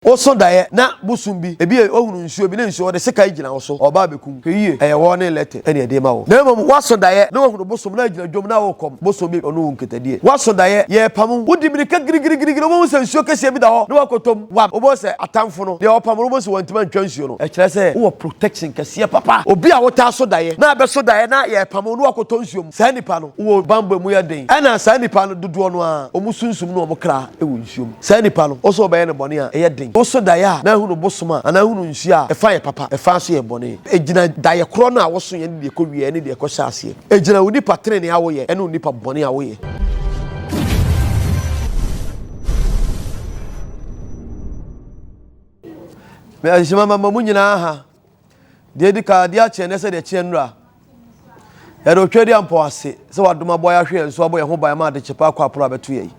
Wo so daeɛ na bosom bi, ebi a ɔhunu nsuo bi ne nsuo ɔde sekan gyina wo so ɔreba abɛku wo. Hwɛ yie, ɛyɛ wɔ ne Lete ɛne ɛde rema wo. Na mmom woaso daeɛ na wahunu bosom na agyina dwom na worekɔm bosom bi ɔne wo nketadie. Woaso daeɛ, yɛrepam wo, wodi mirika girigirigirigiri wobɛhu sɛ nsuo kɛseɛ bi da hɔ na woakɔtɔm wam, wobɛhu sɛ atamfo no, deɛ ɔrepam no wobɛhu sɛ wantumi antwa nsuo no, ɛkyerɛ sɛ wowɔ protection kɛseɛ papa. Obi a wotaa so daeɛ na abɛso daeɛ na yɛrepam wo na woakɔtɔ nsuo mu, saa nipa no, wowɔ banbɔ a ɛmu yɛ den ɛna saa nipa no dodoɔ no ara wɔn sunsum ne wɔn kra, wɔ nsuo mu. Saa nipa no, ɔsɛ ɔbɛyɛ no bɔne a ɛyɛ den. Ɔsɔ daeɛ a, na ahunu bosom a, anaa ahunu nsuo a, ɛfa yɛ papa, ɛfa nso yɛ bɔne. Ɛgyina daeɛ korɔ no a wosoeɛ ne deɛ ɛkɔwieɛ ne deɛ ɛkɔhyɛ aseɛ. Ɛgyina onipa tenenee a woyɛ ne onipa bɔne a woyɛ. Mede adehyema mama mo nyinaa ha. Deɛ ɛdi kan, adeɛ akyeɛ nɛ sɛ deɛ ɛkyeɛ nnora. Yɛde otwa di ampɔ ase sɛ wadom abɔ yɛn ahwe yɛn so abɔ yɛn ho ban ma ade kyepa akɔ aporo abɛto yɛn.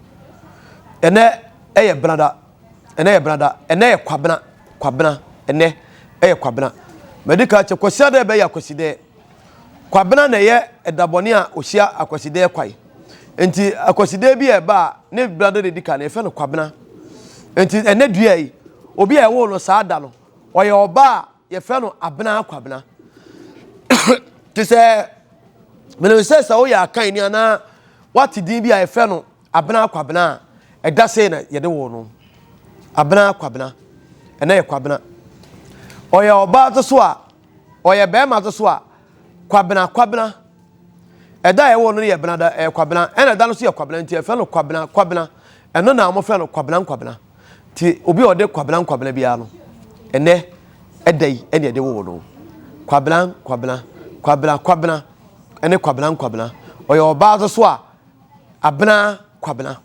Ɛnɛ ɛyɛ benada, ɛnɛ yɛ benada, ɛnɛ yɛ kwabena, kwabena, ɛnɛ ɛyɛ kwabena. Madi kan kyɛ kwasi adɛ bɛyɛ akwasi dɛ. Kwabena na ɛyɛ ɛdabɔne a ɔhyia akwasi dɛ kwae. Nti akwasi dɛ bi a ɛba a ne benada na ɛdi kan no yɛfɛ no kwabena. Nti ɛnɛ dua yi, obi a ɛwoo no saa da no, Ɔyɛ ɔbaa a yɛfrɛ no Abena Kwabena. Te sɛ menim sɛ sɛ woyɛ akan ni anaa wate din bi a yɛfrɛ no Abena Kwabena a ɛda sei na yɛde wo no. Abena Kwabena. Ɛnɛ yɛ Kwabena. Ɔyɛ ɔbaa to so a ɔyɛ bɛrima to so a Kwabena Kwabena. Ɛda a ɛwɔ no yɛ Benada ɛyɛ Kwabena ɛna ɛda no so yɛ Kwabena nti yɛfrɛ no Kwabena Kwabena. Ɛno na wɔfrɛ no Kwabena Nkwabena. Nti obi a ɔde kwabena nkwabena biara no, ɛnɛ ɛda yi ɛne ɛde woo no. Kwabena nkwabena, kwabena kwabena, ɛne kwabena nkwabena. Ɔyɛ ɔbaa nso so a, abena kwabena.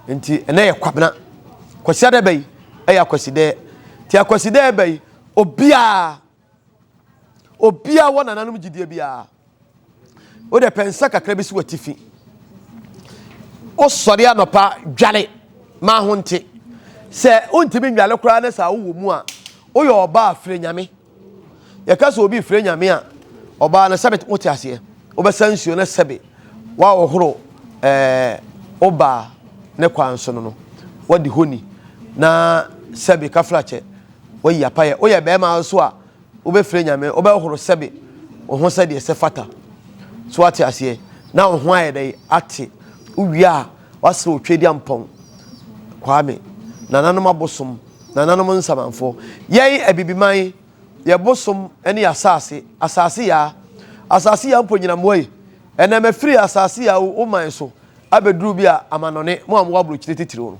Nti ɛnɛ yɛ kwabena. Kwasiada bɛ yi ɛyɛ akwasidaa. Nti akwasidaa bɛ yi, obiara Obiara wɔ nananom gyidie biara. Wo deɛ pɛ nsa kakra bi si w'atifi. Wosɔre anɔpa dwale ma ho nte. Sɛ wontumi nnwale koraa ne saa wowɔ mu a, woyɛ ɔbaa frɛ nyame. Yɛka sɛ obi frɛ nyame a, ɔbaa no sɛbe wote aseɛ. Wobɛsa nsuo no sɛbe woahohoro eh, wobaa ne kwan so no no. Wadi honi na sɛbe kafra kyɛ. Woayi apayɛ. Woyɛ barima nso a, wobɛfrɛ Nyame, wobɛhohoro sɛbe wo ho sɛdeɛ ɛsɛ fata. So woate aseɛ? Na wo ho ayɛ dɛn? Ate. Wowie a, woasrɛ Otwedeampɔn, Kwame, nananom abosom, nananom nsamanfoɔ. Yɛn Abibiman, yɛn bosom ne yɛn asase, asase yaa. Asase yaa mpo nyina mmoa yi. Ɛnnɛ mafiri asase a awu woman so abɛduru bi a amanɔne, mo a mowɔ aborokyire titiriw no.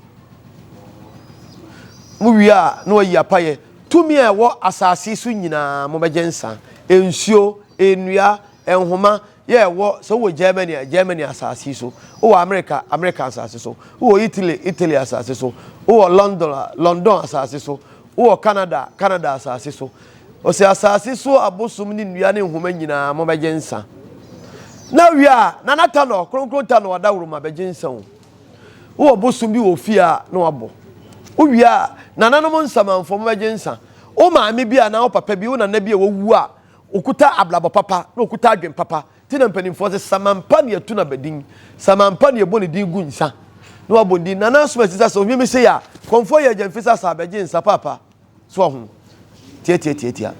Mowie a na wɔayi apayɛ tumi a ɛwɔ asase so nyinaa, mobɛgye nsa, nsuo, nnua, nhoma yɛ ɛwɔ, sɛ wowɔ Germany a, Germany asase so, wowɔ Amerika a, Amerika asase so, wowɔ Italy a, Italy asase so, wowɔ London a, London asase so, Wowɔ Canada, Canada asase so. Ɔsɛ asase so abosom ne nnua ne nhoma nyinaa mo bɛgye nsa. Na wie a, Nana Tanɔ, Kronkron Tanɔ Adaworoma bɛgye nsa o. Wowɔ bosom bi wɔ fie a na wabɔ. Wowie a, Nananom Nsamanfoɔ mo bɛgye nsa. Wo maame bi anaa wo papa bi, wo nana bi a wawu a, ɔkuta abrabɔ papa na ɔkuta adwene papa Nti na mpanimfoɔ se Samampa ne yɛto no abadin, Samampa ne yɛbɔ ne din gu nsa na wabɔ ne din. Nana Asuma Sisa sɛ ɔhwim sei a, kɔmfoɔ yɛ gyamfi sɛ asa abɛgye nsa paapa. So wahu? Tiatiatiatia.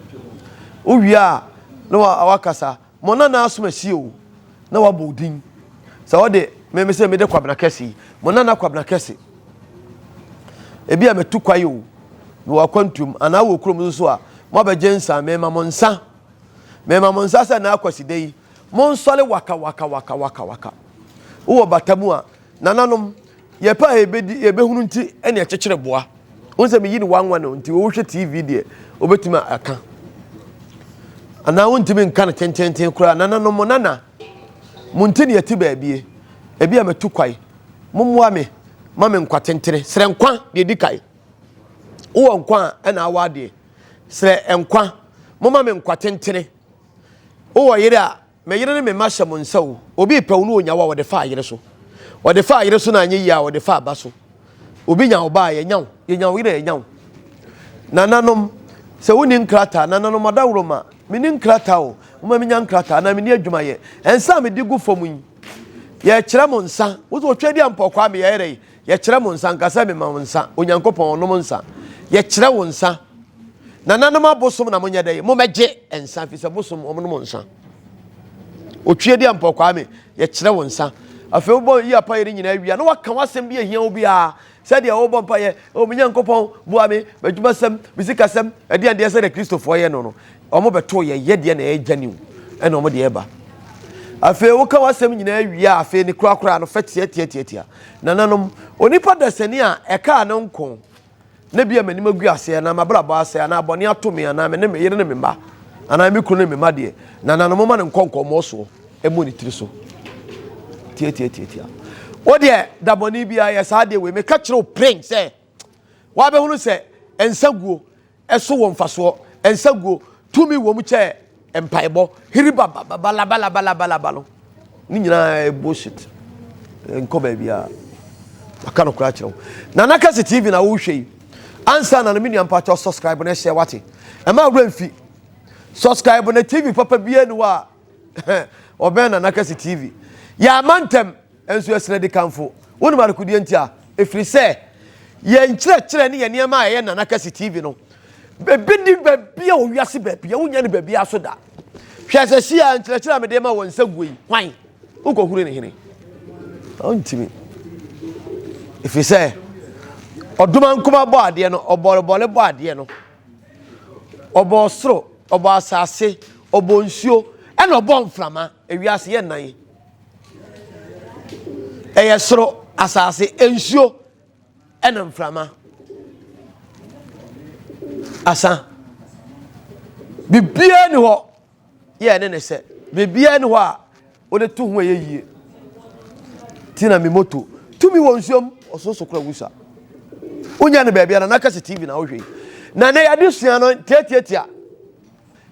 Wowie a na wakasa, mo Nana Asuma sie o, na wabɔ wo din. Sɛ ɔde me me sɛ mede Kwabena Kɛse yi, mo Nana Kwabena Kɛse. Ebi a matu kwae o, mewɔ akwantuom anaa wɔ kurom nso a, moabɛgye nsa, mema mo nsa Mema mo nsa sɛ nnɛ ara Kwasida yi, monsɔre waka, waka, waka, waka, waka. Wowɔ bata mu a, nananom, yɛ pɛ a yɛbɛdi, yɛbɛhunu nti ɛne ɛkyekyere boa. Wohu sɛ meyi no wanwa no nti, wohwɛ TV deɛ, wobɛtumi aka. Anaa wontumi nka no tententen koraa. Nananom, mo nana, mo nti ne yɛte baabie. Ebi a matu kwae. Mommoa me ma me nkwa tentene. Srɛ nkwa deɛ ɛdi kae. Wowɔ nkwa a, ɛna awa adeɛ. Srɛ nkwa, momma me nkwa tentene. Wowɔ yere a, me yere ne me mma hyɛ mo nsa o. Obi repɛ wo na ɔnya wo a, ɔde faa yere so. Ɔde faa yere so na anyɛ yie a, ɔde faa ba so. Obi nya wo ba a, yɛnya wo. Yɛnya wo yere a, yɛnya wo. Nananom, sɛ wonni nkrataa, nananom adaworoma, menni nkrataa o, momma menya nkrataa anaa menni adwumayɛ. Nsa a mede gu fam yi, yɛkyerɛ mo nsa. Wo sɛ ɔtwa di a mpɔkwaa, meyɛ yɛrɛ yi. Yɛkyerɛ mo nsa, nka sɛ mema wo nsa, Onyankopɔn, nom nsa. Yɛkyerɛ wo nsa. Nananom abosom na monyɛ dɛ, mommɛgye nsa, ɛfiri sɛ bosom wɔnom nsa. Otwie deɛ mpɔ Kwame, yɛkyerɛ wo nsa. Afei wobɔ yi apayɛ no nyinaa wia na waka w'asɛm bi ahia wo biara sɛdeɛ wobɔ mpayɛ, o me Nyankopɔn, boa me, m'adwumasɛm, me sikasɛm, ɛdeɛn deɛ sɛdeɛ Kristofoɔ yɛ no no. Wɔbɛtow yɛn yɛdeɛ na ɛyɛ gyani o, ɛna wɔde reba. Afei woka w'asɛm nyinaa wie a, afei ne korakoraa no, fɛ teateateatea. Nananom, onipa dasani a ɛkaa ne nko na ebia m'anim agu ase anaa m'abrabɔ asɛe anaa bɔne ato me anaa me ne me yere ne me mma anaa me kunu ne me mma deɛ, nananom momma no nkɔ nkɔmmɔ soɔ mmɔ ne tiri so. Teateateatea. Wo deɛ da bɔne biara yɛ saa deɛ wei meka kyerɛ wo pren sɛ wabɛhunu sɛ nsa guo so wɔ mfasoɔ, nsaguo, tumi wɔ mu kyɛ mpaebɔ, hiriba babalabalabalaba no, ne nyinaa yɛ bullshit. Nkɔ baabiara. Maka no koraa kyerɛ wo. Nana Kasi TV na wohwɛ yi. Ansa na no me nua mpakyɛ subscribe na ɛhyɛ wate. Ɛma awura mfi. Subscribe na TV papa biara ni hɔ a Ɔbɛn na n'aka si TV. Yɛamma ntɛm, nso yɛsrɛ di kamfo. Wonim adekodeɛ nti a? Ɛfiri sɛ, yɛn nkyerɛkyerɛ ne yɛn nneɛma a ɛyɛ na n'aka si TV no, ebi nni baabi a wɔ wiase baabi a wonnya no baabiara so da. Hwɛ sɛ hyia nkyerɛkyerɛ a mede rema wɔn nsa guo yi, hwan? Wokɔhunu ne hene? Ɔntumi. Ɛfiri sɛ, ɔdoma nkuma bɔ adeɛ no, ɔbɔrebɔre bɔ adeɛ no. Ɔbɔɔ ɔsoro, ɔbɔɔ asase, ɔbɔɔ nsuo, ɛna ɔbɔɔ mframa. Ewiase yɛ nnan yi. Ɛyɛ soro, asase, nsuo, ɛna mframa. Asa. Biribiara ni hɔ yɛɛ ne ne sɛ biribiara ni hɔ a wode to ho ɛyɛ yie ti na me moto tumi wɔ nsuom ɔsoso kora wusa wonya ne baabi ana n'aka si tv na wohwɛ na ne yɛde sua no tiatiatia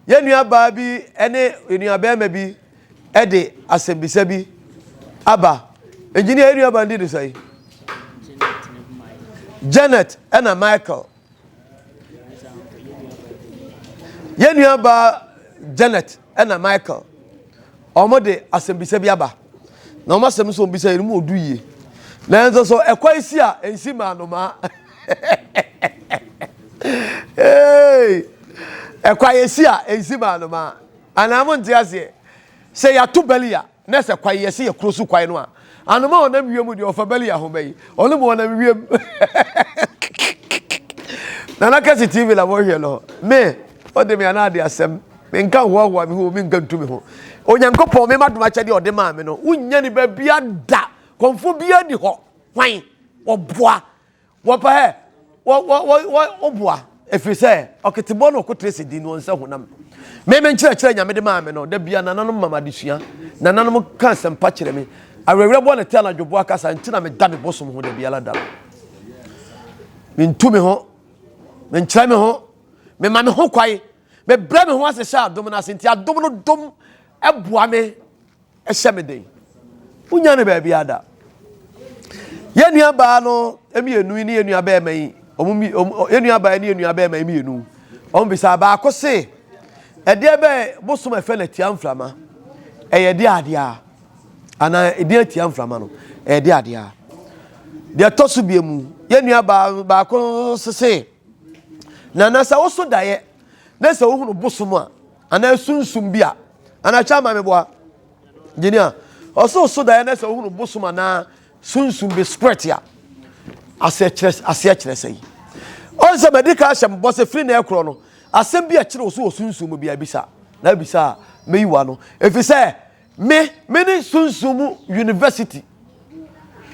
yɛn nuabaa bi ne nuabɛrima bi de asɛmbisa bi aba engineer yɛn nuabaa ndi ne sɛ janet ɛna michael Yɛn nuabaa Janet na Michael, wɔde asɛmbisa bi aba. Na wɔn asɛm nso wɔbisa yɛ no mu odu yie. Nanso so ɛkwa si a nsi maa nnomaa. ɛkwa yɛ si a nsi maa nnomaa. Anaa mo nte aseɛ. Sɛ yɛato bɛli a. Na sɛ kwan yɛse yɛ kuro so kwan no a anoma a ɔnam wiem deɛ ɔfa bɛli aho bɛyi ɔno ma ɔnam wiem nana kasi tv na wɔhwɛ no me ɔde me ana ade asɛm me nka hoahoa me ho me nka ntu me ho onyankopɔn me ma dom akyɛdeɛ ɔde maa me no wonya ne baabia da kɔmfo bia ni hɔ hwan ɔboa Wɔpɛ hɛ, wɔ wɔ wɔ wɔ wo boa, ɛfiri sɛ ɔketebɔ ne ɔkoterɛ si di ne wɔn nsa hunam. Me me nkyerɛkyerɛ a Nyame de maa me no, da bia nananom ma me adesua, nananom ka asɛmpa kyerɛ me, awerɛwerɛboɔ ne te anadwoboa kasa nti na meda me bosom ho da biara da no. Mentu me ho, menkyerɛ me ho, mema me ho kwae, mebrɛ me ho ase hyɛ adom no ase nti adom no dom boa me Ɛhyɛ me den. Wonnya no baabiara da. Yɛn nuabaa no mmienu yi ne yɛn nuabɛrima yi, wɔn mmi wɔn yɛn nuabaa yi ne yɛn nuabɛrima yi mmienu, wɔn bisa baako se, ɛdeɛ bɛ bosom a ɛfɛ no atia mframa? Ɛyɛ ɛdeɛ adeɛ a? Anaa ɛdeɛ atia mframa no? Ɛyɛ ɛdeɛ adeɛ a? Deɛ ɛtɔ so bie mu, yɛn nuabaa no baako sese, na na sɛ woso daeɛ na sɛ wohunu bosom a, anaa sunsum bi a, Anaakyɛ ama me boa. Gyini a. Ɔsɛ ɔso daeɛ na sɛ wohunu bosom anaa sunsum bi spirit a. Aseɛ kyerɛ aseɛ kyerɛ sɛ yi. Ɔn sɛ madi ka ahyɛ mbɔ sɛ firi na ɛkorɔ no. Asɛm bi a ɛkyerɛ ɔso wɔ sunsum mu bia bisa. Na abisa a meyi wa no. Efi sɛ me me ne sunsum mu university.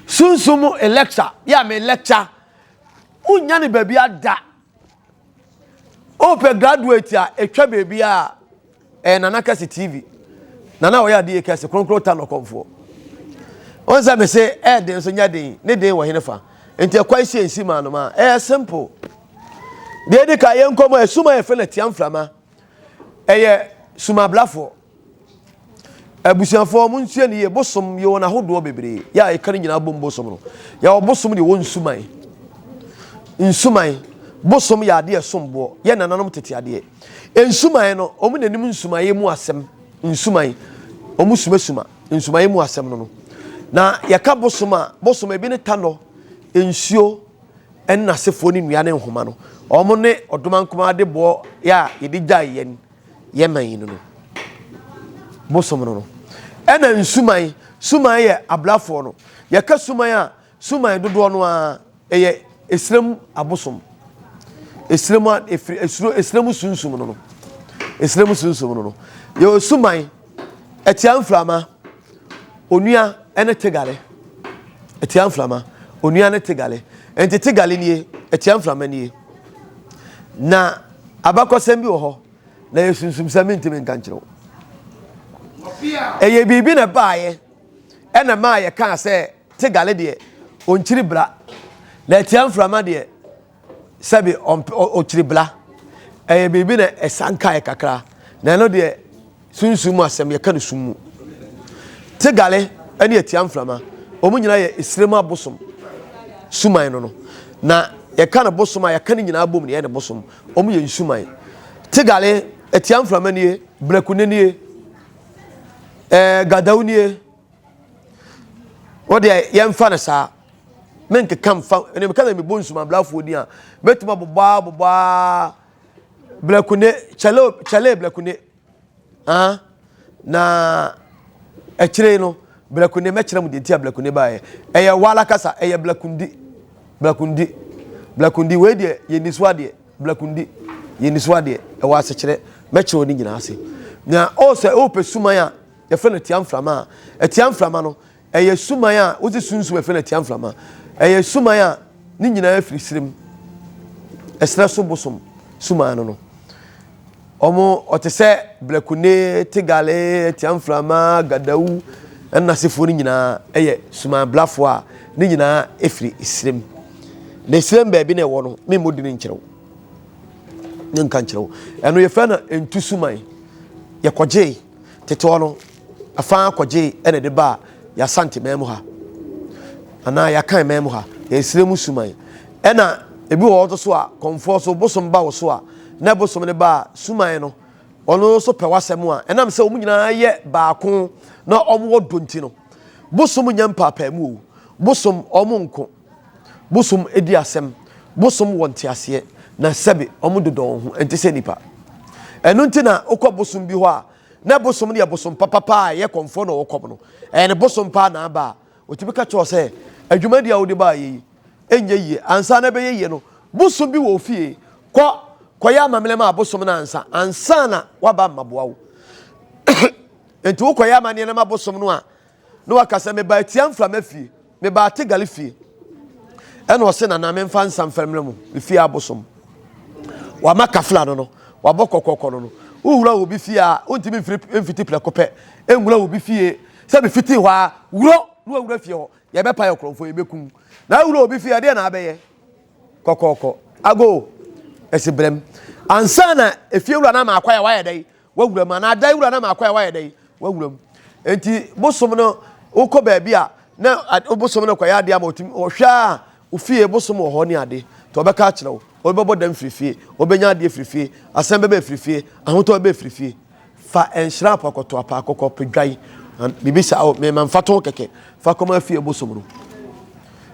Sunsum mu lecture. Ya me lecture. Wonya ne baabi ada. Wopɛ graduate a ɛtwa baabi a ɛyɛ Nana Kɛse TV. Nana ɔyɛ adeɛ kɛse kronkron ta nɔkɔmfoɔ. Wɔn sɛ me se ɛɛden nso nyɛ den ne den wɔ hene fa. Nti ɛkwan si nsi maa no maa ɛyɛ simple. Deɛ di ka yɛ nkɔmɔ ɛsum a yɛfrɛ no atiamframa ɛyɛ sumabrafoɔ. Abusuafoɔ mo nsua ne yie bosom yɛ wɔn ahodoɔ bebree yɛ a ɛka ne nyinaa bom bosom no yɛwɔ bosom deɛ wɔ nsuman nsuman bosom yɛ adeɛ somboɔ yɛ nananom tete adeɛ nsuman no wɔn na anim nsuman mu asɛm nsuman wɔn sumasuma nsuman mu asɛm no no na yɛka bosom a bosom ebi ne tanɔ nsuo ɛne n'asefoɔ ne nnua ne nhoma no wɔn ne ɔdomankoma de boɔ yɛ a yɛde gyae yɛn yɛman yi no no bosom no no ɛna nsuman suman yɛ ablafoɔ no yɛka suman a suman dodoɔ no ara ɛyɛ esrem abosom esrem a efiri esuro esrem sunsum no no esrem sunsum no no yɛwɔ suman. Ɛtia mframa, onua ne tegale. Ɛtia mframa, onua ne tegale. Nti tegale nie, ɛtia mframa nie. Na abakɔsɛm bi wɔ hɔ, na yɛ sunsum sɛ mentumi nka nkyerɛ wo. Ɛyɛ biribi na ɛbaeɛ ɛna maa yɛkaa sɛ tegale deɛ ɔnkyiri bra, na ɛtia mframa deɛ sɛbi ɔmpɛ ɔ ɔkyiri bla ɛyɛ biribi na ɛsan kaeɛ kakra na ɛno deɛ sunsum mu asɛm yɛka no sum mu tegale ɛne atia mframa wɔn nyinaa yɛ esire mu abosom suman no no na yɛka no bosom a yɛka no nyinaa bom na yɛ no bosom wɔn yɛ nsuman tegale atia mframa nie brɛko ne nie ɛɛ gadaw nie. o deɛ yɛmfa no saa menkeka mfa ɛnna meka na mebɔ nsumabrafoɔ din a mɛtumi abobɔ a bobɔ a blakune kyɛle kyɛle blakune ah na akyire no blakune mɛkyerɛ mu deɛ nti a blakune baeɛ ɛyɛ wala kasa ɛyɛ blakundi blakundi blakundi wei deɛ yɛ niso adeɛ blakundi yɛ niso adeɛ ɛwɔ asekyerɛ mɛkyerɛ ne nyinaa ase na ɔsɛ ɔpɛ suman a Yɛfrɛ no atia mframa a. Atia mframa no, ɛyɛ suman a wodze sunsum yɛfrɛ no atia mframa. Ɛyɛ suman a ne nyinaa firi serɛ mu. Ɛserɛ so bosom suman no no. Wɔn, ɔte sɛ Blakune, Tegale, atia mframa, Gadawu, ɛne n'asefoɔ no nyinaa yɛ suman blafoɔ a ne nyinaa firi serɛ mu. Na serɛ mu baabi na ɛwɔ no, memmɔ din nkyerɛ wo. Ne nka nkyerɛ wo. Ɛno yɛfrɛ no ntu suman. Yɛkɔgyee. Tetewɔ no, fa ara kɔgyee ɛna de baa Y'Asante man mu ha, anaa Y'Akan man mu ha, Y'Esire mu Suman. Ɛna ebi wɔ hɔ nso so a, kɔmfoɔ so bosom ba wo so a, na bosom no ba a, Suman no, ɔno nso pɛ w'asɛm a, ɛnam sɛ wɔn nyinaa yɛ baako na wɔn wɔ dɔ nti no, bosom nyɛ mpaapaemu o, bosom wɔn nko. Bosom di asɛm. Bosom wɔ nteaseɛ, na sɛbe wɔn dodɔ wɔn ho, ɛnte sɛ nnipa. Ɛno nti na wokɔ bosom bi hɔ a, na bosom no yɛ bosom papapa a ɛyɛ kɔmfoɔ na wɔkɔm no. Ɛyɛ ne bosom paa na aba a, ɔtumi ka kyerɛ sɛ, adwumadi a wode baa yɛ yi, ɛnyɛ yie. Ansa na ɛbɛyɛ yie no, bosom bi wɔ wo fie, kɔ kɔyɛ amammerɛ ma bosom no ansa, ansa na waba mmaboa wo. Nti wokɔyɛ amanneɛ no ma bosom no a, na waka sɛ meba atia mframa fie meba ategali fie ɛna ɔse nana memfa nsa mfa mmerɛ mu me fie abosom wama kafla no no wabɔ kɔkɔkɔ no no wowura obi fie a wontumi mfiti prɛko pɛ nwura obi fie sɛ mefiti hɔ a wurɔ na wawura fie hɔ yɛbɛpa yɛ korɔmfoɔ yɛbɛkum na awura obi fie ɛdeɛ na abɛyɛ kɔkɔkɔ ago ɛsi brɛm ansa na efiewura no ama akwa yɛ wayɛ dɛn W'awura mu anaa dan wura na ma akɔ a wayɛ dɛn w'awura mu nti bosom no wokɔ baabi a na bosom no kɔyɛ adeɛ ama ɔtumi ɔhwɛ a ofie bosom wɔ hɔ ne adeɛ nti ɔbɛka akyerɛ wo ɔbɛbɔ dam firi fie ɔbɛnya adeɛ firi fie asɛm bɛbɛ firi fie ahotɔ bɛbɛ firi fie fa nhyira apa kɔtɔ apa kɔkɔ pɛdwan biribi sa o mema mfa to kɛkɛ fa kɔma fie bosom no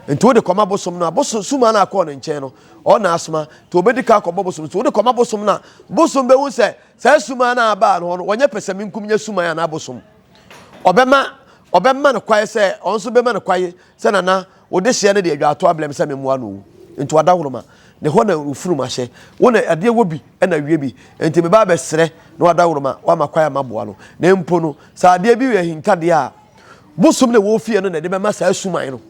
nti wode kɔma bosom no a bosom suma no akɔɔ ne nkyɛn no ɔna asoma nti obedi kan akɔbɔ bosom nti wode kɔma bosom na bosom bɛhu sɛ saa suman no abaa no hɔ no wɔnyɛ pɛsɛmenkum nyɛ suman anaa bosom ɔbɛma ɔbɛma no kwae sɛ ɔno nso bɛma no kwae sɛ nana wode hyeɛ no de adwa ato ablɛm sɛ memmoa no wu nti wada horoma ne hɔ na ofunu ma hyɛ wo na adeɛ wɔ bi na wie bi nti meba abɛsrɛ na wada horoma wama kwae ama boa no na mpo no sɛ adeɛ bi yɛ hintadeɛ a Bosom na ɛwɔ fie no na ɛde bɛma saa suman no,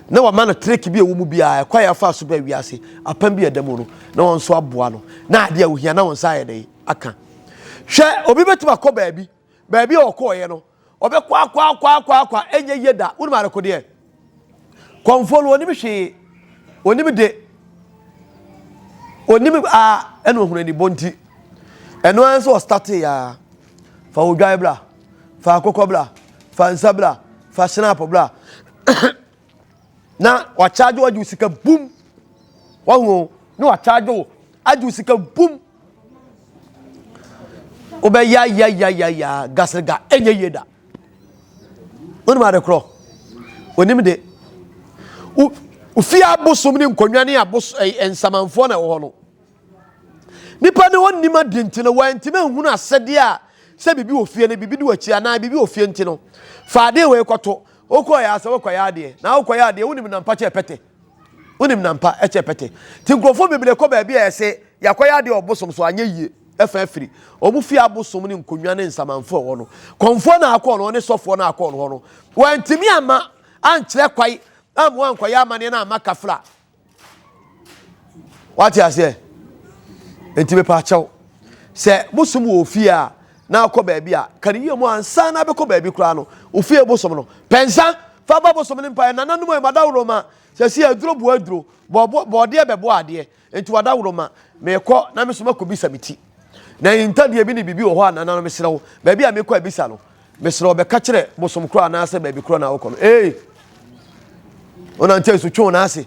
na wɔama no trek bi a ɛwɔ mu biara, ɛkwan a afa so bɛn wiase apam bi a ɛda mu no, na wɔn nso aboa no, na adeɛ a ohia na wɔn nsa ayɛ dɛn aka. Hwɛ, obi bɛtumi akɔ baabi, baabi a ɔkɔɔeɛ no, ɔbɛkɔ akɔ akɔ akɔ akɔ, ɛnyɛ yie da, wonim adekodeɛ? Kɔmfoɔ no ɔnim hwee, ɔnim de, ɔnim a ɛna ɔhunu anibɔ nti. Ɛno ara nso ɔstate ya. Fa odwan bra, fa akokɔ bra, fa nsa bra, fa sinapo bra. na wakyagye wo agye wo sika bum. Wahu na wakyagye wo agye wo sika bum. Wobɛya ya ya ya ya gasrega ɛnyɛ yie da. Wonim ade korɔ? Onim de. Wo ofie abosom ne nkonnwa ne abos ɛyɛ nsamanfoɔ na ɛwɔ hɔ no. Nipa ne ɔnim ade nti no wantumi ahunu asɛdeɛ a sɛ biribi wɔ fie no biribi di w'akyi anaa biribi wɔ fie nti no fa adeɛ wei kɔto wokɔyɛ asɛ wokɔyɛ adeɛ na wokɔyɛ adeɛ wonim nampakyɛ pɛtɛ Wonim na mpa kyɛ pɛtɛ. Nti nkurɔfoɔ bebree kɔ baabi a yɛse yɛakɔyɛ adeɛ wɔ bosom so anyɛ yie ɛfa afiri wɔn fie abosom ne nkonnwa ne nsamanfoɔ ɛwɔ no. Kɔmfoɔ na akɔ no hɔ ne sɔfoɔ na akɔ no hɔ no wantumi amma ankyerɛ kwae amma wankɔyɛ amaneɛ na amma kafra. Wate aseɛ? Nti mepaakyɛw sɛ bosom wɔ ofie a na akɔ baabi a kane yie mu ansa na bɛkɔ baabi koraa no ofie bosom no pɛnsa Fa ba bosom ne mpaeɛ. Nananom ei, m'adawroma seesei aduro boɔ aduro. Bɔɔboɔ, bɔɔdeɛ bɛboɔ adeɛ. Enti w'adawroma, meekɔ na me nso makɔbisa me ti. Na yi ntadeɛ bi ne biribi wɔ hɔ a, nananom mesrɛ wo, baabi a meekɔ abisa no, mesrɛ wo bɛka kyerɛ bosom korɔ anaasɛ baabi korɔ na wokɔ no. Ei! Wonantee so twe wo nan ase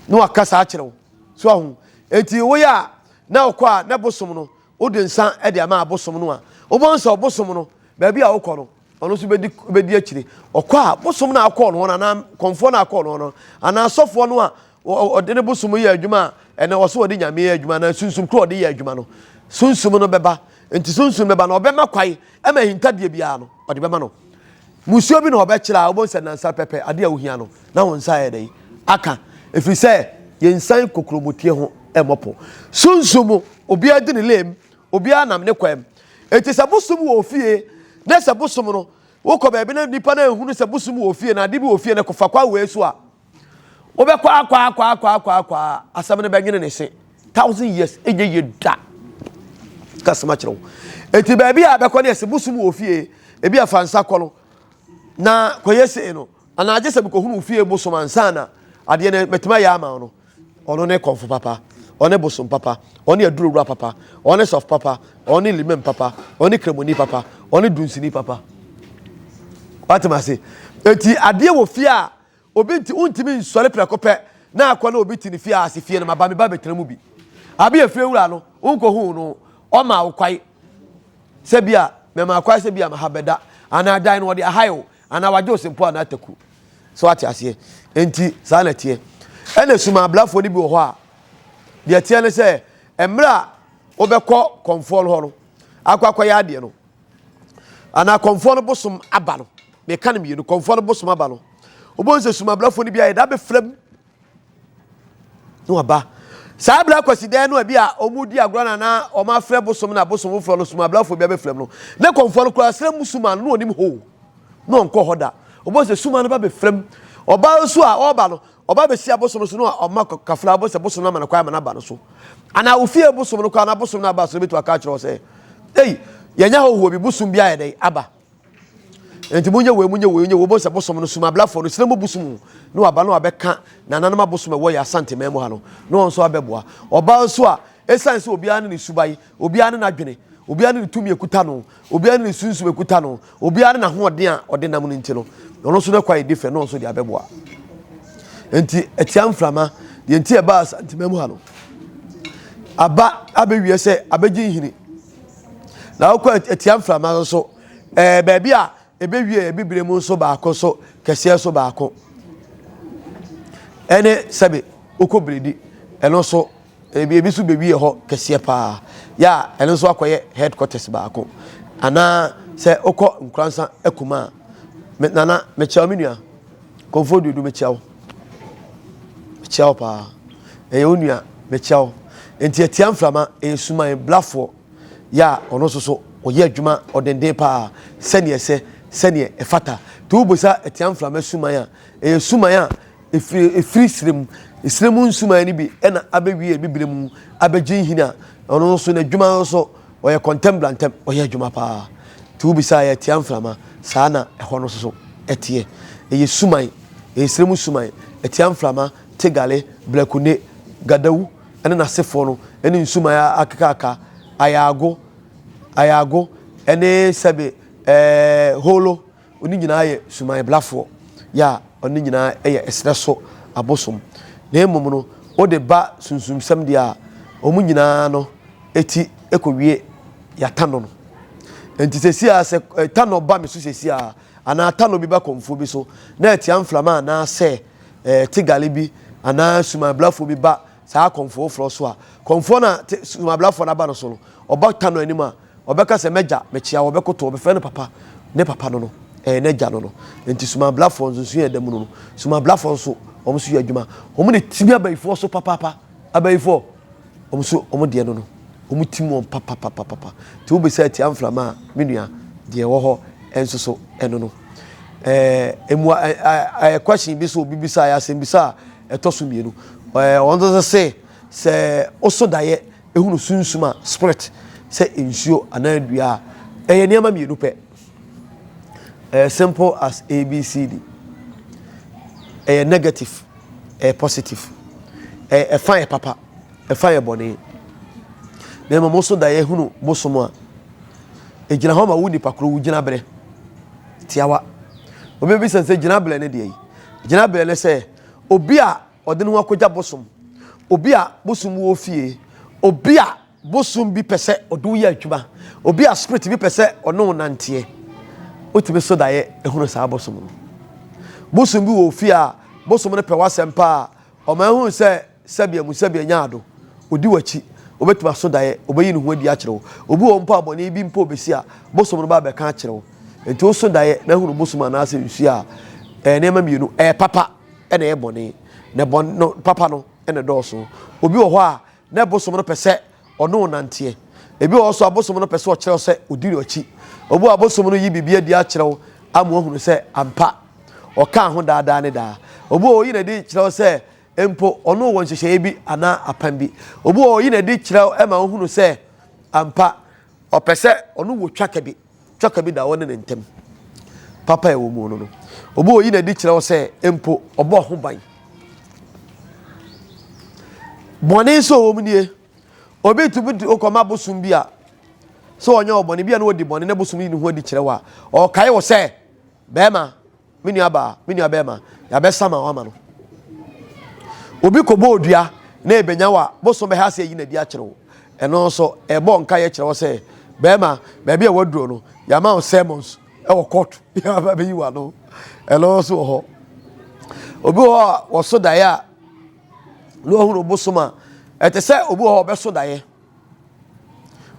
na waka saa akyerɛ wo. So ahu? Enti woyɛ a na wokɔ a na bosom no, wode nsa de ama abosom no a, wobɛhu sɛ ɔbosom no, baabi a wokɔ no, ɔno nso bɛdi bɛdi akyire ɔkɔ a bosom no a ɔkɔɔ no hɔ no anaa kɔnfoɔ no a ɔkɔɔ no hɔ no anaa sɔfoɔ no a ɔde ne bosom yɛ adwuma a ɛnɛ ɔso ɔde nyame yɛ adwuma anaa sunsum koro ɔde yɛ adwuma no sunsum no bɛba nti sunsum bɛba no ɔbɛma kwae ɛma ahintadeɛ biara no ɔde bɛma no musuo bi na ɔbɛkyerɛ a wobɛhu sɛ nansa pɛpɛ adeɛ a wohia no na wo nsa yɛ dɛn aka ɛfiri sɛ yɛnsan kokuromotie ho ɛmmɔpo sunsum obiara di ne lem obiara nam ne kwam Enti sɛ bosom wɔ ofie na sɛ bosom no wokɔ baabi na nipa no ehunu sɛ bosom wɔ ofie na ade bi wɔ ofie no kɔfa kwa wei so a wobɛkɔ akɔ akɔ akɔ akɔ akɔ asɛm no bɛnwene ne se thousand years enye ye da kasema kyerɛ wo enti baabi a bɛkɔ ne ɛsɛ bosom wɔ ofie ebi afa nsa kɔ no na kɔyɛ sei no anaa gye sɛ mekɔhunu ofie bosom ansa na adeɛ no mɛtumi ayɛ ama no Ɔno ne kɔmfo papa, ɔne bosom papa, ɔne aduro wura papa, ɔne sɔf papa, ɔne limam papa, ɔne kremoni papa, ɔne dunsini papa. Watem ase. Eti adeɛ wɔ fie a obi nti wontumi nsɔre prɛko pɛ na akɔ na obi te ne fie a ase fie no maba meba bɛtena mu bi. Abi efie wura no wonkɔhuu no ɔma wo kwae sɛ bi a mɛma kwae sɛ bi a maha bɛda anaa dan no ɔde ahae o Anaa wagye ɔsɛmpo anaa taku. So wate aseɛ? Enti saa na ɛteɛ. Ɛna suma abrafoɔ no bi wɔ hɔ a, deɛ ɛteɛ ne sɛ, mmerɛ a wobɛkɔ kɔmfoɔ no hɔ no, akɔ akɔyɛ adeɛ no, anaa kɔmfoɔ no bosom aba no, meka no mmienu, kɔmfoɔ no bosom aba no, wobɛhu sɛ suma abrafoɔ no bi ayɛ da bɛfrɛ m na waba saa bere akwasidɛn no ebi a wɔdi agorɔ na na wɔafrɛ bosom na bosom foforɔ no sumabrafo bi abɛfrɛ no ne kɔnfoɔ no koraa srɛ mu suma no na ɔnim hoo na ɔnkɔ hɔ da wɔbɔ sɛ suma no ba bɛfrɛ mu ɔbaa nso a ɔreba no ɔba bɛsi abosom no so na ɔma kafra ɔbɔ sɛ bosom no ama no kwan ama no aba no so anaa ofie bosom no koraa na bosom no aba so no bɛtu aka akyerɛ wɔ sɛ ei yɛnya hɔhoɔ bi bosom bi ayɛ dɛn aba nti mo nyɛ wei mo nyɛ wei nyɛ wei mo sɛ bosom no sum ablafoɔ no sinamu bosom ne waba no abɛka nananom abosom ɛwɔ yɛ asante mɛn mu ha no ne wɔn nso abɛboa ɔbaa nso a ɛsan sɛ obiara ne ne suban obiara ne n'adwene obiara ne ne tumi ekuta no obiara ne ne sunsum ekuta no obiara ne n'ahoɔden a ɔde nam no nti no ɔno nso n'akwa yɛ different ne wɔn nso de abɛboa nti ɛtia mframa deɛ nti ɛbaa asante mɛn mu ha no aba abɛwie sɛ abɛgye nhini. na wokɔ atia mframa no so ɛɛ baabi a ɛbɛwie abibire mu nso baako so kɛseɛ so baako ɛne sɛbe wokɔ biredi ɛno nso ebi ebi nso bɛwie hɔ kɛseɛ paa yɛ a ɛno nso akɔyɛ headquarters baako anaa sɛ wokɔ nkoransa akuma a nana mekyɛw me nua Kɔmfoɔ Duodu mekyia wo. Mekyia wo paa. Ɛyɛ wo nua mekyia wo. Nti atia mframa ɛyɛ suman blafoɔ yɛ a ɔno nso so ɔyɛ adwuma ɔdenden paa sɛdeɛ ɛsɛ sɛdeɛ ɛfata. Nti wobisa atia mframa suman a ɛyɛ suman a ɛfiri ɛfiri serɛ mu. Serɛ mu nsuman no bi ɛna abɛwie bibire mu abɛgye nhini a ɔno nso n'adwuma nso Ɔyɛ kɔntɛm bra ntɛm, ɔyɛ adwuma paa. Nti wobisa a, ɛtia mframa. Saa na ɛhɔ no nso so teɛ. Ɛyɛ suman, ɛyɛ serɛ mu suman. Ɛtia mframa, Tegale, Blakune, Gadawu ne n'asefoɔ no ne nsuman akekaaka, Ayaago, Ayaago ne sɛbe ɛɛ Holo. Ɔno nyinaa yɛ sumanblafoɔ, yɛ a ɔno nyinaa yɛ ɛserɛ so abosom. Na mmom no, wode ba sunsumsɛm deɛ a, wɔn nyinaa no ti kɔwie Yɛatano no. Enti seesei ara sɛ tanɔ ba me so seesei ara, anaa tanɔ bi ba kɔmfoɔ bi so, na atia mframa anaa sɛ tigale bi anaa sumanblafoɔ bi ba saa kɔmfoɔfoɔ so a, kɔmfoɔ no a sumanblafoɔ no aba no so no, ɔba tanɔ anim a, Ɔbɛka sɛ, M'agya, mekyea wo. Ɔbɛkoto, ɔbɛfrɛ no papa. Ne papa no no, ɛyɛ n'agya no no. Enti sumabrafoɔ nso, nso yɛ ɛda mu no no. Sumabrafoɔ nso, wɔn nso yɛ adwuma. Wɔn na ɛtimi abayifoɔ so papaapa. Abayifoɔ, wɔn nso, wɔn deɛ no no, wɔn tim wɔn papapapapa. Nti wobisa atia mframa a, me nua, deɛ ɛwɔ hɔ nso so, ɛno no. Ɛɛ, emua, ɛ, ɛ, ɛ, question bi so obi bisa, ɛyɛ asɛmbisa a ɛtɔ so mmienu. Ɛɛ, wɔn nso se, sɛ woso daeɛ, Hunu sunsum a, spirit, sɛ nsuo anaa dua a, ɛyɛ nneɛma mmienu pɛ. Ɛyɛ simple as ABCD. Ɛyɛ negative, ɛyɛ positive. Ɛyɛ ɛfa yɛ papa, ɛfa yɛ bɔne. Na mmom nso da yɛhunu bosom a, ɛgyina hɔ ma wo nipa koro wo gyinaberɛ tiawa. Obi bɛbisa sɛ gyinaberɛ ne deɛ yi? Gyinaberɛ ne sɛ obi a ɔde ne ho akɔgya bosom, obi a bosom wɔ fie, obi a bosom bi pɛ sɛ ɔde wo yɛ adwuma, obi a spirit bi pɛ sɛ ɔne wo nanteɛ. Wotumi so daeɛ ehunu saa bosom no. Bosom bi wɔ fie a bosom no pɛ w'asɛm paa, ɔma ehunu sɛ sɛbea mu sɛbea nya ado, odi w'akyi, obetumi aso daeɛ, obeyi ne ho adi akyerɛ wo. Obi wɔ mpo a bɔne bi mpo obesi a bosom no ba abɛka akyerɛ wo. Nti woso daeɛ na ehunu bosom anaasɛ nsuo a ɛyɛ nneɛma mmienu, ɛyɛ papa. na ɛyɛ bɔne, na bɔne no papa no na ɛdɔɔso. Obi wɔ hɔ a, na bosom no pɛ sɛ ɔne wo nanteɛ. Ebi wɔ hɔ nso a, bosom no pɛ sɛ ɔkyerɛ wo sɛ odi no akyi. Obi wɔ hɔ a, bosom no yi biribi adi akyerɛ wo ama woahunu sɛ ampa ɔkaa ho daa daa ne daa. Obi wɔ hɔ a, oyi no adi kyerɛ wo sɛ mpo ɔne wo wɔ nhyehyɛeɛ bi anaa apam bi. Obi wɔ hɔ a, oyi no adi kyerɛ wo ma wohunu sɛ ampa ɔpɛ sɛ ɔne wo twa ka bi. Twaka bi da ɔne ne ntam. Papa a ɛwɔ mu no no, obi a oyi n'adi kyerɛ wo sɛ mpo ɔbɔ ho ban. Bɔne nso wɔ mu nie. Obi tumi tu okɔma bosom bi a sɛ ɔnyɛ ɔbɔne bi a na ɔdi bɔne na bosom yi ne ho adi kyerɛ wo a ɔkae wo sɛ bɛrima me nua baa me nua bɛrima yɛabɛsa ma wama no obi kɔbɔ odua na ebenya wa boso bɛha ase ayi n'adi akyerɛ wo ɛno nso ɛbɔ nka yɛ kyerɛ wo sɛ bɛrima baabi a waduro no yɛama wo sermons ɛwɔ court yɛaba bɛyi wa no ɛno nso wɔ hɔ obi wɔ hɔ a wɔso daeɛ a na wahunu bosom a ɛte sɛ obi wɔ hɔ ɔbɛso daeɛ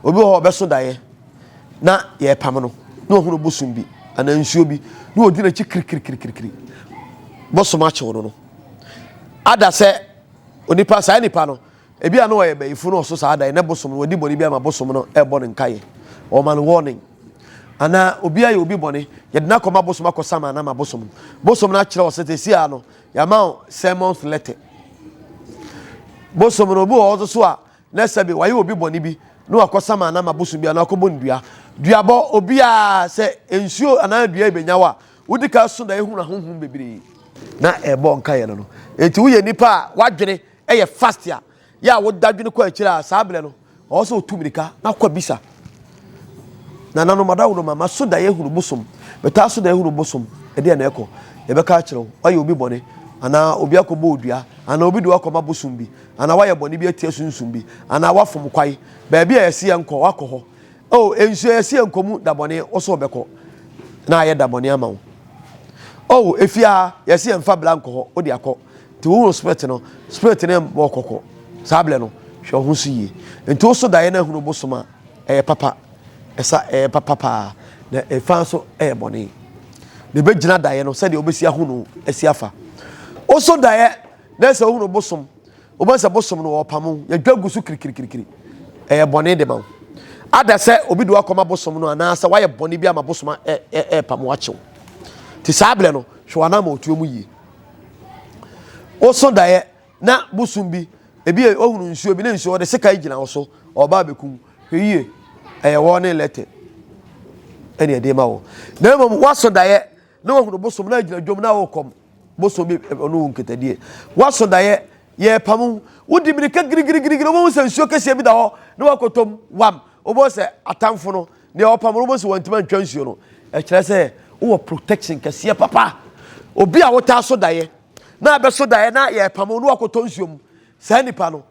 Obi wɔ hɔ ɔbɛso daeɛ na yɛrepam no na ɔhunu bosom bi anaa nsuo bi na ɔdi n'akyi kirikirikirikiri bosom akyew no no ada sɛ onipa saa nipa no ebi a na ɔyɛ bɛyifo na ɔso saa daeɛ na bosom no ɔdi bɔne bi ama bosom no ɛbɔ no nkaeɛ ɔma no warning anaa obi ayɛ obi bɔne yɛde no akɔma bosom akɔ sama no ama bosom no bosom no akyerɛ ɔsɛ sɛ sia no yɛama sermons letter bosom no obi wɔ hɔ so a na sɛbe wayɛ obi bɔne bi na wakɔ sama anaa ma bosom bi anaa wakɔbɔ no dua. Duabɔ, obiara, sɛ nsuo anaa dua yi bɛnya wo a, wodi ka so na ehunu ahonhom bebree. Na ɛbɔ nkaeɛ no no. Enti woyɛ nipa a w'adwene yɛ fast a, yɛ a woda dwene kɔ akyire a, saa berɛ no ɔwɔ sɛ otu mmirika na kɔ bisa. Nananom, adaworoma, maso da yɛhunu bosom. Metaa so da yɛhunu bosom. Ɛdeɛ na ɛkɔ. Yɛbɛka akyerɛ wo, wayɛ obi bɔne, anaa obi akɔbɔ odua, anaa obi de wakɔma bosom bi, anaa wayɛ bɔne bi atia sunsum bi, anaa wafom kwae. Baabi a yɛse yɛnkɔ, wakɔ hɔ. Oh, nsuo a yɛse yɛnkɔ mu da bɔne, wo so wobɛkɔ, na ayɛ da bɔne ama wo. Oh, efie a yɛse yɛmfa bra nkɔ hɔ, wode akɔ. Nti wohunu spirit no, spirit no mmɔ wo kɔkɔ saa berɛ no, hwɛ wo ho so yie. Nti wo so daeɛ no ahunu bosom a, ɛyɛ papa, ɛsa ɛyɛ papa paa, na ɛfa nso ɛyɛ bɔne. Na ɛbɛgyina daeɛ no sɛdeɛ wobɛsi ahunu asi afa. Wo so daeɛ na sɛ wohunu bosom, wobɛhu sɛ bosom no wɔpamo, yɛdwa gu so kirikirikiri, ɛyɛ bɔne de ma wo. Ada sɛ obi de wakɔma bosom no anaasɛ wayɛ bɔne bi ama bosom ɛpamo akyew. Nti saa berɛ no, hwɛ w'ananmɔtuo mu yie. woso daeɛ na bosom bi ebi yɛ ohunu nsuo bi ne nsuo ɔde sekan gyina wo so ɔba abɛkum hwɛ yie ɛyɛ wɔn ne lɛtɛ ɛne ɛde ma wo na mmom woaso daeɛ na wahunu bosom na agyina dwom na wokɔm bosom bi ɔno wo nketadie woaso daeɛ yɛrepamu wodi mirika girigirigirigiri wobɛhu sɛ nsuo kɛseɛ bi da hɔ na wakɔtɔm wam wobɛhu sɛ atamfo no Deɛ ɔpam no bɛsi wɔntumi antwa nsuo no ɛkyerɛ sɛ wowɔ protection kɛseɛ papa obi a wotaa so daeɛ na abɛso daeɛ na yɛpam no wakɔtɔ nsuo mu saa nipa no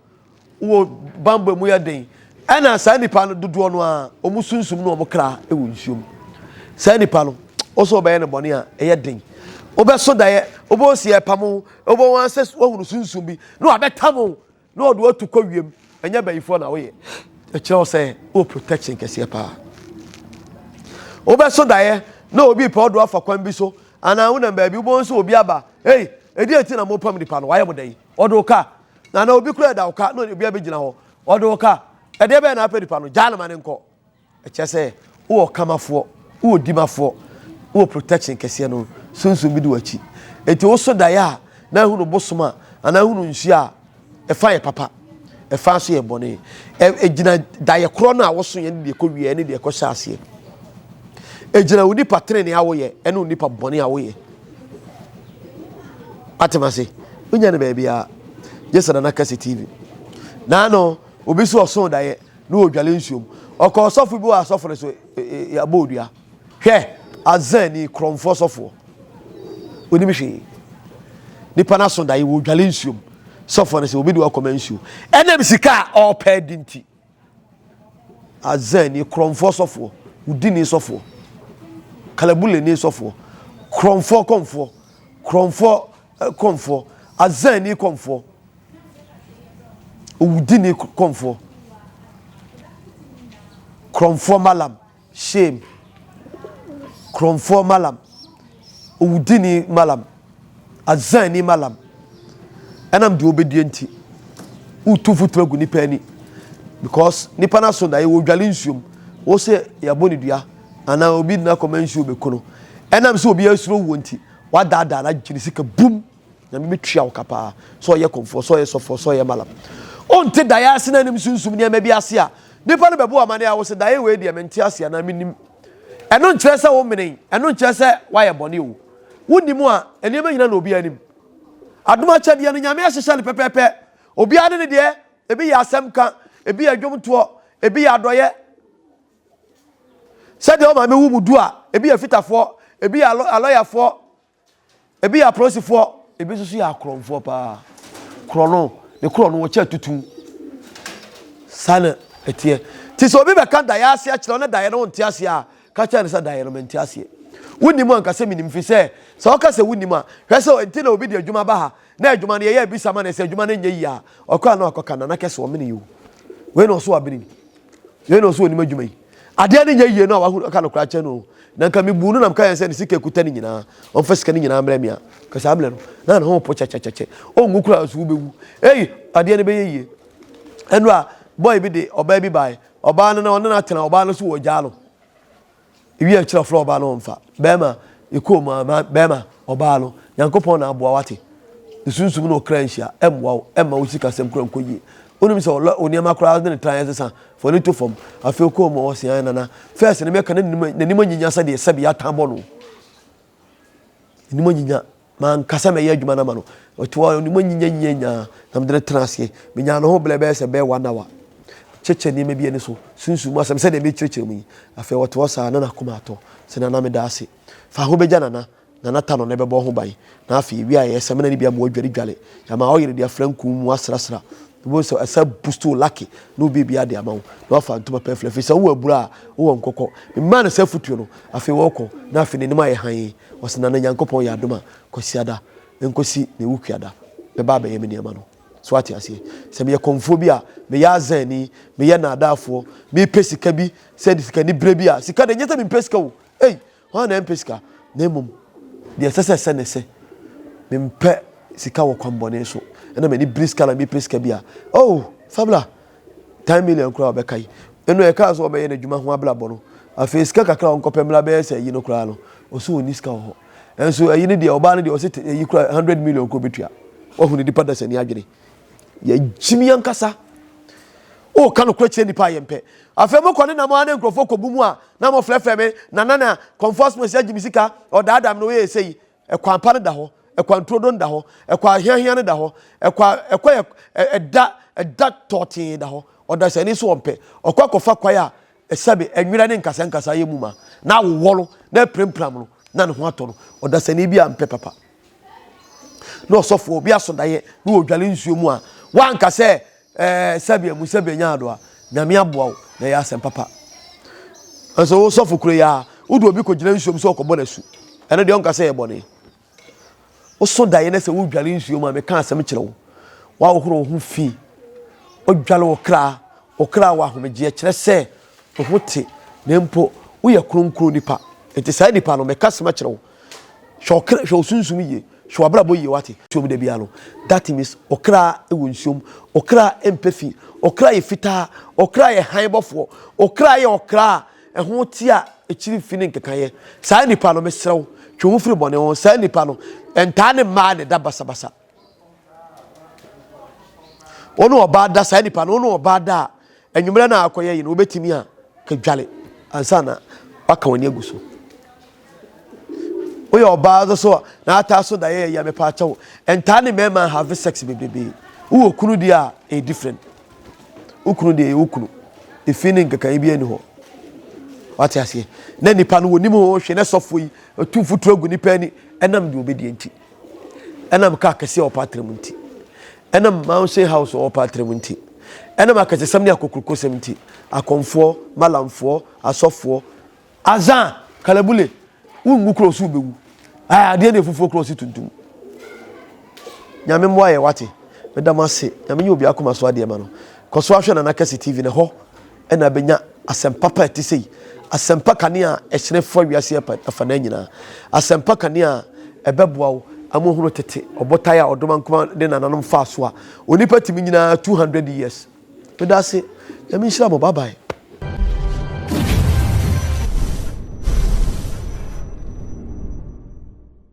wɔ bambɔ mu yɛ den ɛna saa nipa no dodoɔ no a wɔn sunsum no wɔn kra wɔ nsuo mu saa nipa no ɔsɛ ɔbɛyɛ no bɔne a ɛyɛ den wobɛso daeɛ wobɛsi yɛpam wobɛwɔ sɛ wahunu sunsum bi na wabɛtam na ɔde watu kɔ wiem ɛnyɛ bayifoɔ na woyɛ ɛkyerɛ wo sɛ wɔ protection kɛseɛ paa wobɛso daeɛ na obi pɛ ɔdo afa kwan bi so anaa wonam baabi wobɛhu sɛ obi aba ei ɛdeɛ nti na mopam nipa no wayɛ mo dɛn ɔde wo ka na na obi kura ɛda wo ka na obi abɛgyina hɔ ɔde wo ka ɛdeɛ bɛyɛ na apɛ nipa no gyaa no ma ne nkɔ Ɛkyerɛ sɛ wowɔ ɔkamafoɔ, wowɔ odimafoɔ, wowɔ protection kɛseɛ no sunsum bi di w'akyi. Enti woso daeɛ a na ehunu bosom a anaa ehunu nsuo a ɛfa yɛ papa, ɛfa nso yɛ bɔne. Egyina daeɛ korɔ no a woso yɛ ne deɛ ɛkɔ wie ne deɛ ɛkɔ hyɛ aseɛ. Egyina wo nipa tenenee a woyɛ ɛne wo nipa bɔne a woyɛ. Atem ase, wonya ne baabi a, gye sɛ Nana Kɛse TV. Naano obi so ɔso daeɛ. na ɔredware nsuo mu. Ɔkɔɔ sɔfo bi hɔ a sɔfo no so yɛabɔ odua. Hwɛ! Azani korɔmfoɔ sɔfoɔ. Ɔnim hwee. Nipa no aso dae, wɔredware nsuo mu. Sɔfo no sɛ obi de wakɔma nsuo. Ɛnam sika a ɔrepɛ adi nti. Azani korɔmfoɔ sɔfoɔ. Wudini sɔfoɔ. Kalabuleni sɔfoɔ. Korɔmfoɔ kɔmfoɔ. Korɔmfoɔ kɔmfoɔ. Azani kɔmfoɔ. Owudini kɔmfoɔ. Korɔmfoɔ malam. Shame. Korɔmfoɔ malam. Owudini malam. Azani malam. Ɛnam deɛ ɔbɛdie nti. Wotu mfuturo gu nipa ani. Because nipa no aso daeɛ wɔdwale nsuom. Wo sɛ yɛbɔ ne dua anaa obi na kɔma nsuo bɛku no. Ɛnam sɛ obi asuro wuo nti. Wadaadaa no agye ne sika bum. Nyame bɛtua wo ka paa, sɛ ɔyɛ kɔmfoɔ, sɛ ɔyɛ sɔfoɔ, sɛ ɔyɛ malam. Wonte daeɛ ase na anim sunsum nneɛma bi ase a, nnipa no bɛbɔ wo amaneɛ a wose daeɛ wei deɛ mente ase anaa mennim. Ɛno nkyerɛ sɛ womene, ɛno nkyerɛ sɛ woayɛ bɔne o. Wonim a, nneɛma nyina na obiara nim. Adom akyɛdeɛ no, Nyame ahyehyɛ no pɛpɛɛpɛ. Obiara ne ne deɛ, ebi yɛ asɛm ka, ebi yɛ dwomtoɔ, ebi yɛ adɔeɛ. Sɛdeɛ wo maame woo mo du a, ebi yɛ fitafoɔ, ebi yɛ alɔyafoɔ. Ebi yɛ apolisifoɔ, ebi nso so yɛ akorɔmfoɔ paa. Korɔ no, ne korɔ no wɔkyɛ tutu. Saa na ɛteɛ. Nti sɛ obi bɛka daeɛ ase akyerɛ wo na daeɛ no wonte aseɛ a, ka kyerɛ no sɛ daeɛ no mente aseɛ. Wonim anka sɛ menim firi sɛ sɛ woka sɛ wonim a, hwɛ sɛ ɛnti na obi de adwuma ba ha Na adwuma no yɛyɛ bisa ma no sɛ adwuma no nyɛ yie a ɔkɔ a na wakɔka nana kɛse ɔmene yi o wei na ɔso abene ni wei na ɔso onim adwuma yi adeɛ no nyɛ yie no a wahu ɔka no koraa kyɛ no na nka mebu no na meka yɛn sɛ ne sika ekuta ne nyinaa ɔmfa sika no nyinaa mmerɛ me a ka saa mmerɛ no na ne ho po kyɛkyɛkyɛkyɛ ɔngu koraa so wobɛwu ei adeɛ no bɛyɛ yie ɛno a bɔe bi de ɔbaa bi bae ɔbaa no na ɔne no atena ɔbaa no so wɔ gyaa no Ewi a kyerɛ flo ɔbaa no ɔmfa. Bɛɛma yɛkɔɔ mu a bɛɛma ɔbaa no Nyankopɔn na aboa wate. Ne sunsum na ɔkra nhyia ɛmmoa wo ɛmma wo sika sɛm kora nkɔ yie. Wonim sɛ ɔlɔ wo nneɛma koraa wode ne tran ɛsesa fa w'ani to fam. Afei ɔkɔɔ mu a ɔse ae nana first no mɛka na n'anim anyinya sɛdeɛ sɛbi yɛatan bɔ no. N'anim anyinya. M'ankasa mɛyɛ adwuma no ama no. Ɔtoaa hɔ, Ɔde mu anyinyanyinyanyaa na mede no tenaa ase. Menyaa ne ho berɛ bɛyɛ sɛ bɛyɛ one hour. Kyekyɛ nneɛma bi ani so. Sunsum mu asɛm sɛdeɛ merekyerɛkyerɛ mu yi. Afei ɔte hɔ saa, na n'akoma atɔ. Sɛ Nana meda ase. Fa ho bɛgya Nana. Nana ta no na ɛbɛbɔ ho ban. Na afei, yɛwiaeɛ, samina no bi ama wadwaredware. Yɛama ɔyere de afra nku mu asrasra. Wobɛhu sɛ ɛsan boost wo lucky na wobeebue ade ama wo na woafa ntoma pɛɛflɛ afei sɛ wowɔ abura a wowɔ nkɔkɔ. Memaa no saa afotuo no, afei ɔɔkɔ na afei n'anim ayɛ hann. Ɔse Nana Nyankopɔn yɛ adom a Kwasiada nkɔsi ne wukuada bɛba abɛyɛ me nneɛma no. So woate aseɛ? Sɛ meyɛ kɔmfoɔ bi a, meyɛ azanni, meyɛ naadaafoɔ, mepɛ sika bi sɛ de sika ne berɛ bi a, sika deɛ nyɛ sɛ mempɛ sika o, ei! Hwan na ɛmpɛ sika, na mmom deɛ ɛsɛ sɛ ɛsɛ na ɛsɛ? Mempɛ sika wɔ kwan bɔne so, ɛna m'ani bere sika na mepɛ sika bi a, oh, Fabla, ten million koraa a ɔbɛka yi, ɛno a ɛkaa sɛ ɔbɛyɛ n'adwuma ho abrabɔ no, afei sika kakra a ɔnkɔpɛ mmra bɛyɛ sɛ ayi no koraa no, ɔse ɔnni sika wɔ hɔ. Nanso ayi no deɛ, ɔbaa no deɛ ɔse te, ayi koraa, hundred million koraa ɔbɛtua. Woahunu nipa dasani adwene? yɛgyimi ankasa woka nokorɛ kyerɛ nnipa a yɛmpɛ afei mokɔ ne nam a ne nkurɔfoɔ kɔbu mu a na mofrɛfrɛ me na na na kɔmfoɔ no si agye me sika ɔdaadaa me na ɔyɛ ɛsɛ yi ɛkwan pa no da hɔ ɛkwan turodo no da hɔ ɛkwan ahiahia no da hɔ ɛkwan ɛkɔ yɛ ɛda ɛda tɔɔtee da hɔ ɔdasani so ɔmpɛ ɔkɔ akɔfa kwae a Esiane nwera ne nkasankasa yɛ mu ma na awowɔ no na apirampira no na ne ho atɔ no, ɔdasani bi ampɛ papa. Na ɔsɔfoɔ bi aso daeɛ na ɔredware nsuo mu a, wanka sɛ, Ɛɛ, sɛbea mu sɛbea nya adɔ a, Nyame aboa wo, na ɛyɛ asɛm papa. Nanso wo sɔfo kuro yi a, wode obi kɔgyina nsuo mu sɛ ɔkɔbɔ no asu. Ɛno deɛ ɔnka sɛ ɛyɛ bɔne. Wosõ daeɛ na sɛ wodware nsuo mu a, meka asɛm kyerɛ wo. Woahohoro wo ho fi. Wodware wo kra. Wo kra wɔ ahomegyeɛ, kyerɛ sɛ, wo ho te, na mpo woyɛ kronkron nipa. Enti saa nipa no, meka asɛm akyerɛ wo. Hwɛ wo kra, hwɛ wo sunsum yie, hwɛ w'abrabɔ yie, woate? Nsuo mu da biara no, that means wo kra wɔ nsuo mu. Wo kra mpɛ fi. Wo kra yɛ fitaa. Wo kra yɛ hann bɔfoɔ. Wo kra yɛ ɔkra a Ɛho te a akyiri mfi ne nkekayɛ. Saa nipa no, mesrɛ wo, twe wo ho firi bɔne ho. Saa nipa no, ɛntaa ne mmaa na ɛda basabasa. Wo ne ɔbaa da, saa nipa no, wo ne ɔbaa da a, anwummerɛ no a akɔyɛ yi no, wobɛtumi a, ka dwale ansa na waka w'ani agu so. Woyɛ ɔbaa no so a na ataa so da yɛyɛ yɛ me paa kyɛw. Ntaa ne mɛɛma have sex bebrebe. Wo wɔ kunu deɛ a ɛyɛ different. Wo kunu deɛ yɛ wo kunu. Efi ne nkekaeɛ bi ani hɔ. Wate aseɛ. Na nipa no wɔ nim ho hwɛ na sɔfo yi tu mfuturo agu nipa ani. Ɛnam deɛ obɛdiɛ nti. Ɛnam kaa kɛseɛ ɔpa atrem nti. Ɛnam mansion house ɔpa atrem nti. Ɛnam akɛsesɛm ne akokurokosɛm nti. Akɔmfoɔ, malamfoɔ, asɔfoɔ. Azaa, Kalabule, wo ngu cross wo bɛwu. Ae adeɛ deɛ fufuo cross tuntum. Nyame mmoa yɛ wate. Meda mo ase. Nyame nyɛ obi akoma so adeɛ ma no. Kɔ so ahwɛ Nana Kɛse TV na hɔ ɛna abɛnya asɛmpa pa ɛte sei. Asɛmpa kanea ɛhyerɛ fa wiase afa na nyinaa. Asɛmpa kanea ɛbɛboa wo ama ohunu tete ɔbotae a ɔdomankoma de nananom faa so a onipa tumi nyinaa 200 years. Medase nyame nhyira mo bye bye.